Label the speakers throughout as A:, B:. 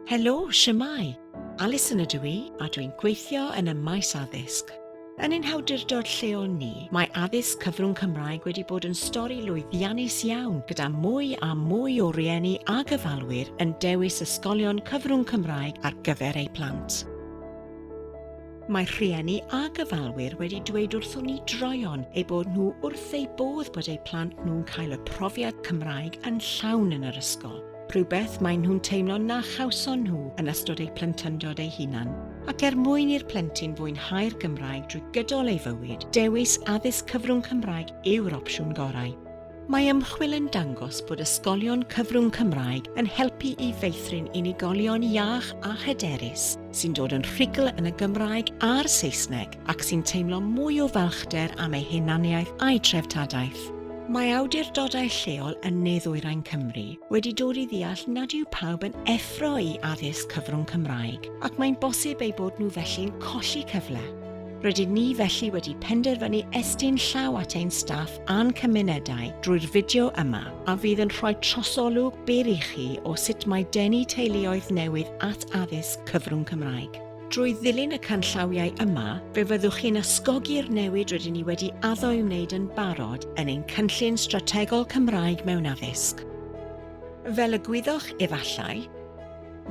A: Helo, shwmae? Alison ydw i a dwi'n gweithio yn y maes addysg. Yn ein hawdurdod lleol ni, mae addysg cyfrwng Cymraeg wedi bod yn stori lwyddiannus iawn gyda mwy a mwy o rieni a gyfalwyr yn dewis ysgolion cyfrwng Cymraeg ar gyfer eu plant. Mae rhieni a gyfalwyr wedi dweud wrthon ni droion ei bod nhw wrth eu bodd bod eu plant nhw'n cael y profiad Cymraeg yn llawn yn yr ysgol. rhywbeth maen nhw'n teimlo na chawson nhw yn ystod eu plentyndod eu hunan, ac er mwyn i'r plentyn fwynhau'r Gymraeg drwy gydol ei fywyd, dewis addysg cyfrwng Cymraeg yw'r opsiwn gorau. Mae ymchwil yn dangos bod ysgolion cyfrwng Cymraeg yn helpu i feithrin unigolion iach a hyderus, sy'n dod yn rhugl yn y Gymraeg a'r Saesneg ac sy'n teimlo mwy o falchder am ei hunaniaeth a'i treftadaeth. Mae awdurdodau lleol yn ne-ddwyrain Cymru wedi dod i ddeall nad yw pawb yn effro i addysg cyfrwng Cymraeg ac mae'n bosib eu bod nhw felly'n colli cyfle. Rydyn ni felly wedi penderfynu estyn llaw at ein staff a'n cymunedau drwy'r fideo yma a fydd yn rhoi trosolwg byr i chi o sut mae denu teuluoedd newydd at addysg cyfrwng Cymraeg. Drwy ddilyn y canllawiau yma, fe fyddwch chi'n ysgogi'r newid rydyn ni wedi addo i wneud yn barod yn ein Cynllun Strategol Cymraeg mewn Addysg. Fel y gwyddoch efallai,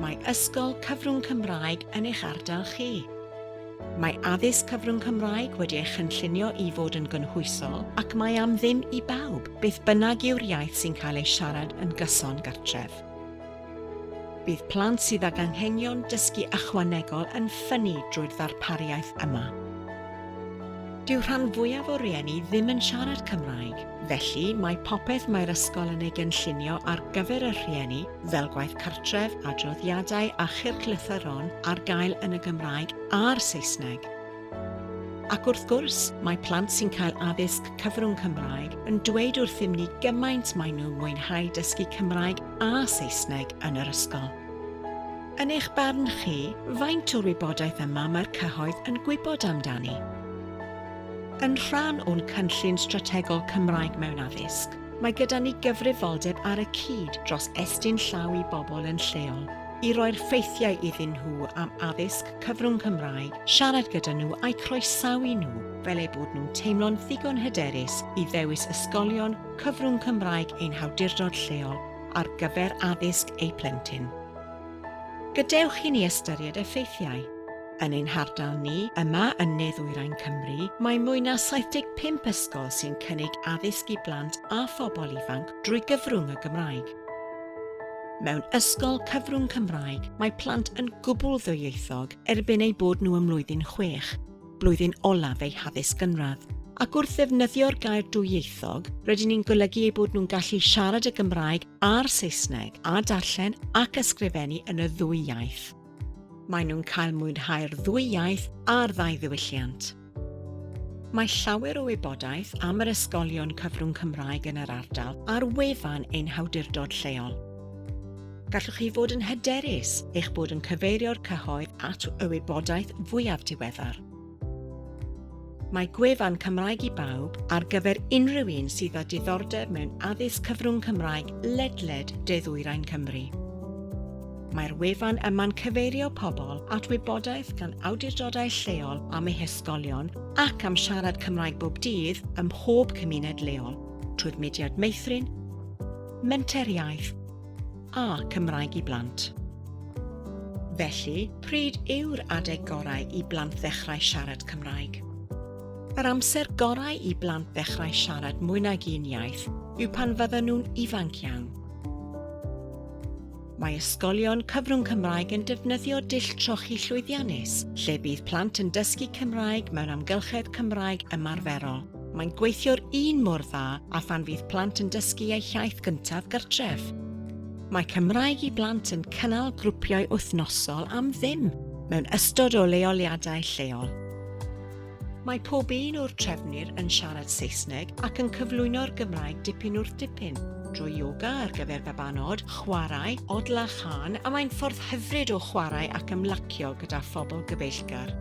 A: Mae ysgol cyfrwng Cymraeg yn eich ardal chi. Mae addysg cyfrwng Cymraeg wedi ei chynllunio i fod yn gynhwysol ac mae am ddim i bawb, beth bynnag yw'r iaith sy'n cael ei siarad yn gyson gartref. Bydd plant sydd ag anghenion dysgu ychwanegol yn ffynnu drwy'r ddarpariaeth yma. Dyw rhan fwyaf o rieni ddim yn siarad Cymraeg, felly mae popeth mae'r ysgol yn ei gynllunio ar gyfer y rhieni fel gwaith cartref, adroddiadau a chylchlythyron ar gael yn y Gymraeg a'r Saesneg. Ac wrth gwrs, mae plant sy'n cael addysg cyfrwng Cymraeg yn dweud wrthym ni gymaint maen nhw'n mwynhau dysgu Cymraeg a Saesneg yn yr ysgol. Yn eich barn chi, faint o'r wybodaeth yma mae'r cyhoedd yn gwybod amdani? Yn rhan o'n cynllun strategol Cymraeg mewn addysg, Mae gyda ni gyfrifoldeb ar y cyd dros estyn llaw i bobl yn lleol, i roi'r ffeithiau iddyn nhw am addysg cyfrwng Cymraeg, siarad gyda nhw a'u croesawu nhw fel eu bod nhw'n teimlo'n ddigon hyderus i ddewis ysgolion cyfrwng Cymraeg ein hawdurdod lleol ar gyfer addysg eu plentyn. Gadewch i ni ystyried effeithiau. Yn ein hardal ni, yma yn Ne-ddwyrain Cymru, mae mwy na 75 ysgol sy'n cynnig addysg i blant a phobl ifanc drwy gyfrwng y Gymraeg. Mewn ysgol cyfrwng Cymraeg, mae plant yn gwbl ddwyieithog erbyn eu bod nhw ym mlwyddyn chwech, blwyddyn olaf eu haddysg gynradd, ac wrth ddefnyddio'r gair dwyieithog, rydyn ni'n golygu eu bod nhw'n gallu siarad y Gymraeg a'r Saesneg a darllen ac ysgrifennu yn y ddwy iaith. Maen nhw'n cael mwynhau'r ddwy iaith a'r ddau ddiwylliant. Mae llawer o wybodaeth am yr ysgolion cyfrwng Cymraeg yn yr ardal ar wefan ein hawdurdod lleol. Gallwch chi fod yn hyderus eich bod yn cyfeirio'r cyhoedd at y wybodaeth fwyaf diweddar. Mae gwefan Cymraeg i Bawb ar gyfer unrhyw un sydd â diddordeb mewn addysg cyfrwng Cymraeg ledled de-ddwyrain Cymru. Mae'r wefan yma'n cyfeirio pobl at wybodaeth gan awdurdodau lleol am eu hysgolion ac am siarad Cymraeg bob dydd ym mhob cymuned leol, trwy'r mudiad meithrin, menter iaith, a Cymraeg i Blant. Felly, pryd yw'r adeg gorau i blant ddechrau siarad Cymraeg? Yr amser gorau i blant ddechrau siarad mwy nag un iaith yw pan fydden nhw'n ifanc iawn. Mae ysgolion cyfrwng Cymraeg yn defnyddio dull trochi llwyddiannus, lle bydd plant yn dysgu Cymraeg mewn amgylchedd Cymraeg ymarferol. Mae'n gweithio'r un mor dda â phan fydd plant yn dysgu eu hiaith gyntaf gartref. Mae Cymraeg i Blant yn cynnal grwpiau wythnosol am ddim mewn ystod o leoliadau lleol. Mae pob un o'r trefnwyr yn siarad Saesneg ac yn cyflwyno'r Gymraeg dipyn wrth dipyn, drwy yoga ar gyfer babanod, chwarae, odl a chân, a mae'n ffordd hyfryd o chwarae ac ymlacio gyda phobl gyfeillgar.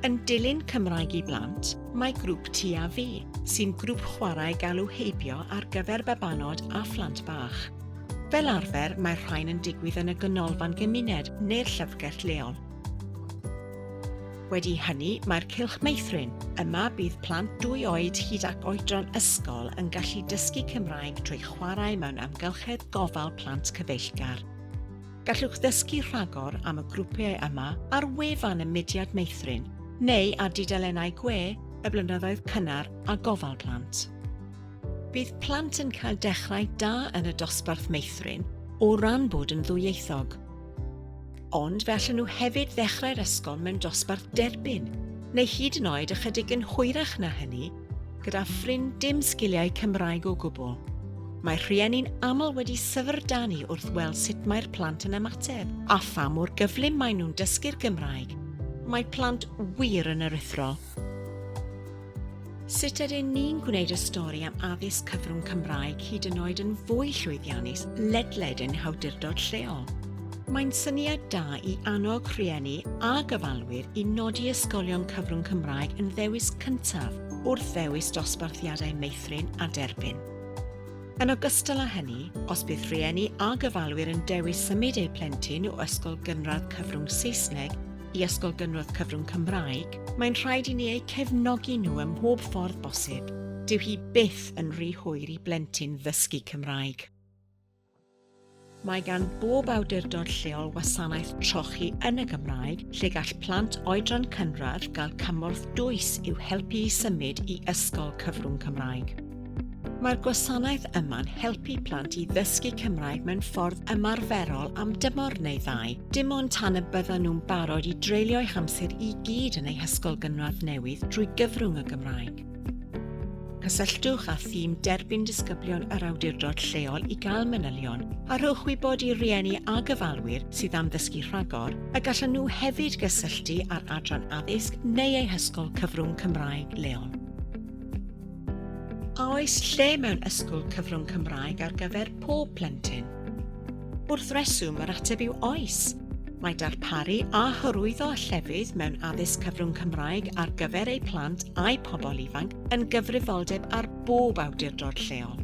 A: Yn dilyn Cymraeg i Blant, Mae grŵp Ti a Fi, sy'n grŵp chwarae galw heibio ar gyfer babanod a phlant bach. Fel arfer, mae'r rhain yn digwydd yn y Ganolfan Gymuned neu'r llyfrgell leol. Wedi hynny, mae'r Cylch Meithrin. Yma bydd plant dwy oed hyd ac oedran ysgol yn gallu dysgu Cymraeg trwy chwarae mewn amgylchedd gofal plant cyfeillgar. Gallwch ddysgu rhagor am y grwpiau yma ar wefan y Mudiad Meithrin neu ar dudalennau gwe y Blynyddoedd Cynnar a Gofal Plant. Bydd plant yn cael dechrau da yn y dosbarth meithrin o ran bod yn ddwyieithog. Ond fe allan nhw hefyd ddechrau'r ysgol mewn dosbarth derbyn, neu hyd yn oed ychydig yn hwyrach na hynny, Gyda ffrind dim sgiliau Cymraeg o gwbl. Mae rhieni'n aml wedi syfrdanu wrth weld sut mae'r plant yn ymateb a pha mor gyflym maen nhw'n dysgu'r Gymraeg. Mae plant wir yn aruthrol. Sut ydyn ni'n gwneud y stori am addysg cyfrwng Cymraeg hyd yn oed yn fwy llwyddiannus ledled ein hawdurdod lleol? Mae'n syniad da i annog rhieni a gofalwyr i nodi ysgolion cyfrwng Cymraeg yn ddewis cyntaf wrth ddewis dosbarthiadau meithrin a derbyn. Yn ogystal â hynny, os bydd rhieni a gofalwyr yn dewis symud eu plentyn o ysgol gynradd cyfrwng Saesneg i ysgol gynradd cyfrwng Cymraeg, mae'n rhaid i ni eu cefnogi nhw ym mhob ffordd bosib. Dyw hi byth yn rhy hwyr i blentyn ddysgu Cymraeg. Mae gan bob awdurdod lleol wasanaeth trochi yn y Gymraeg lle gall plant oedran cynradd gael cymorth dwys i'w helpu i symud i ysgol cyfrwng Cymraeg. Mae'r gwasanaeth yma'n helpu plant i ddysgu Cymraeg mewn ffordd ymarferol am dymor neu ddau, dim ond tan y byddan nhw'n barod i dreulio'u hamser i gyd yn eu hysgol gynradd newydd drwy gyfrwng y Gymraeg. Cysylltwch â thîm derbyn disgyblion yr awdurdod lleol i gael manylion a rhowch wybod i rieni a gyfalwyr sydd am ddysgu rhagor y gallan nhw hefyd gysylltu â'r adran addysg neu eu hysgol cyfrwng Cymraeg leol. A oes lle mewn ysgol cyfrwng Cymraeg ar gyfer pob plentyn? Wrth reswm, yr ateb yw oes. Mae darparu a hyrwyddo llefydd mewn addysg cyfrwng Cymraeg ar gyfer eu plant a'u pobl ifanc yn gyfrifoldeb ar bob awdurdod lleol.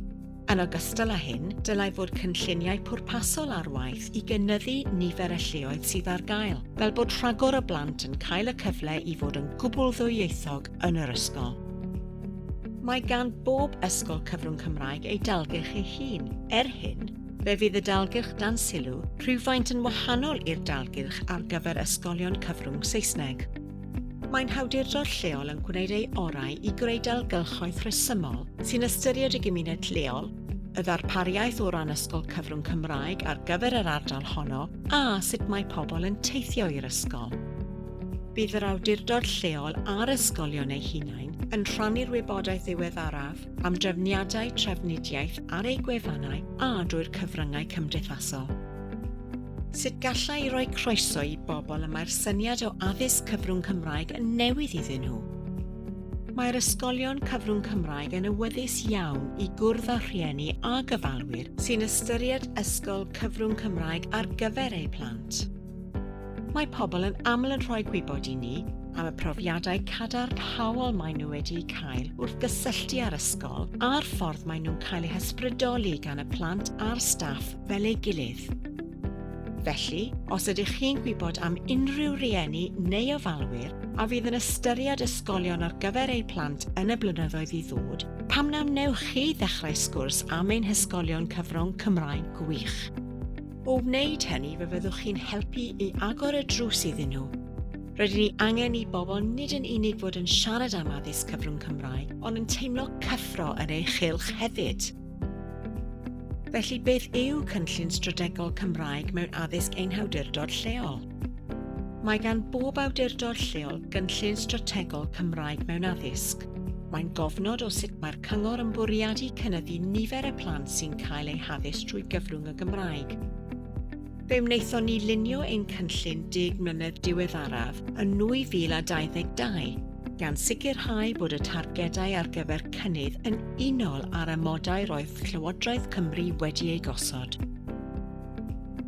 A: Yn ogystal â hyn, dylai fod cynlluniau pwrpasol ar waith i gynyddu nifer y lleoedd sydd ar gael, fel bod rhagor o blant yn cael y cyfle i fod yn gwbl ddwyieithog yn yr ysgol. Mae gan bob ysgol cyfrwng Cymraeg ei dalgylch ei hun. Er hyn, Fe fydd y dalgylch dan sylw rhywfaint yn wahanol i'r dalgylch ar gyfer ysgolion cyfrwng Saesneg. Mae'n hawdurdod lleol yn gwneud ei orau i greu dalgylchoedd rhesymol sy'n ystyried y gymuned lleol, y ddarpariaeth o ran ysgol cyfrwng Cymraeg ar gyfer yr ardal honno a sut mae pobl yn teithio i'r ysgol. Bydd yr awdurdod lleol a'r ysgolion eu hunain yn rhannu'r wybodaeth ddiweddaraf am drefniadau trafnidiaeth ar eu gwefannau a drwy'r cyfryngau cymdeithasol. Sut gallai roi croeso i bobl y mae'r syniad o addysg cyfrwng Cymraeg yn newydd iddyn nhw? Mae'r ysgolion cyfrwng Cymraeg yn awyddus iawn i gwrdd â rhieni a gyfalwyr sy'n ystyried ysgol cyfrwng Cymraeg ar gyfer eu plant. Mae pobl yn aml yn rhoi gwybod i ni am y profiadau cadarnhaol maen nhw wedi'u cael wrth gysylltu â'r ysgol a'r ffordd maen nhw'n cael eu hysbrydoli gan y plant a'r staff fel ei gilydd. Felly, os ydych chi'n gwybod am unrhyw rieni neu ofalwyr a fydd yn ystyried ysgolion ar gyfer eu plant yn y blynyddoedd i ddod, pam na wnewch chi ddechrau sgwrs am ein hysgolion cyfrwng Cymraeg gwych? O wneud hynny, fe fyddwch chi'n helpu i agor y drws iddyn nhw. Rydyn ni angen i bobl nid yn unig fod yn siarad am addysg cyfrwng Cymraeg, ond yn teimlo cyffro yn ei chylch hefyd. Felly, beth yw cynllun strategol Cymraeg mewn addysg ein hawdurdod lleol? Mae gan bob awdurdod lleol gynllun strategol Cymraeg mewn addysg. Mae'n gofnod o sut mae'r cyngor yn bwriadu cynyddu nifer y plant sy'n cael eu haddysg trwy gyfrwng y Gymraeg. Fe wnaethon ni lunio ein cynllun deg mlynedd diweddaraf yn 2022, gan sicrhau bod y targedau ar gyfer cynnydd yn unol â'r amodau roedd Llywodraeth Cymru wedi eu gosod.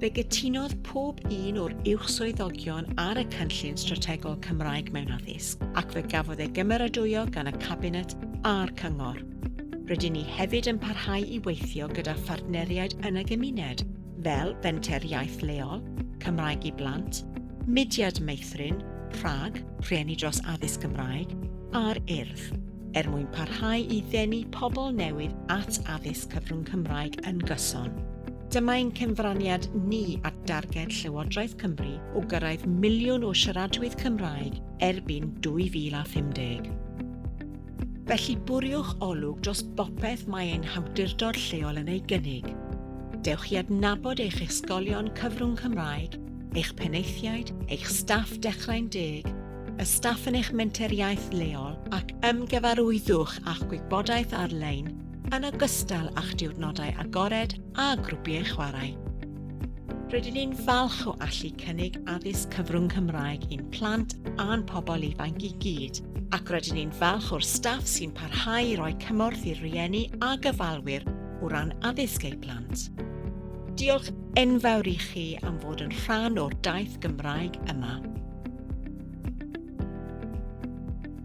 A: Fe gytunodd pob un o'r uwch swyddogion ar y cynllun strategol Cymraeg mewn addysg ac fe gafodd ei gymeradwyo gan y Cabinet a'r Cyngor. Rydyn ni hefyd yn parhau i weithio gyda phartneriaid yn y gymuned, fel Fenter Iaith Leol, Cymraeg i Blant, Mudiad Meithrin, Prag, Rhieni Dros Addysg Gymraeg a'r Urdd, er mwyn parhau i ddenu pobl newydd at addysg cyfrwng Cymraeg yn gyson. Dyma ein cyfraniad ni at darged Llywodraeth Cymru o gyrraedd miliwn o siaradwydd Cymraeg erbyn 2050. Felly bwriwch olwg dros bopeth mae ein hawdurdod lleol yn ei gynnig. Dewch i adnabod eich ysgolion cyfrwng Cymraeg, eich penaethiaid, eich staff Dechrau'n Deg, y staff yn eich menteriaeth leol ac ymgyfarwyddwch â'ch gwybodaeth ar-lein yn ogystal â'ch diwrnodau agored a grwpiau chwarae. Rydyn ni'n falch o allu cynnig addysg cyfrwng Cymraeg i'n plant a'n pobl ifanc i gyd, ac rydyn ni'n falch o'r staff sy'n parhau i roi cymorth i'r rhieni a gyfalwyr o ran addysg eu plant. Diolch enfawr i chi am fod yn rhan o'r daith Gymraeg yma.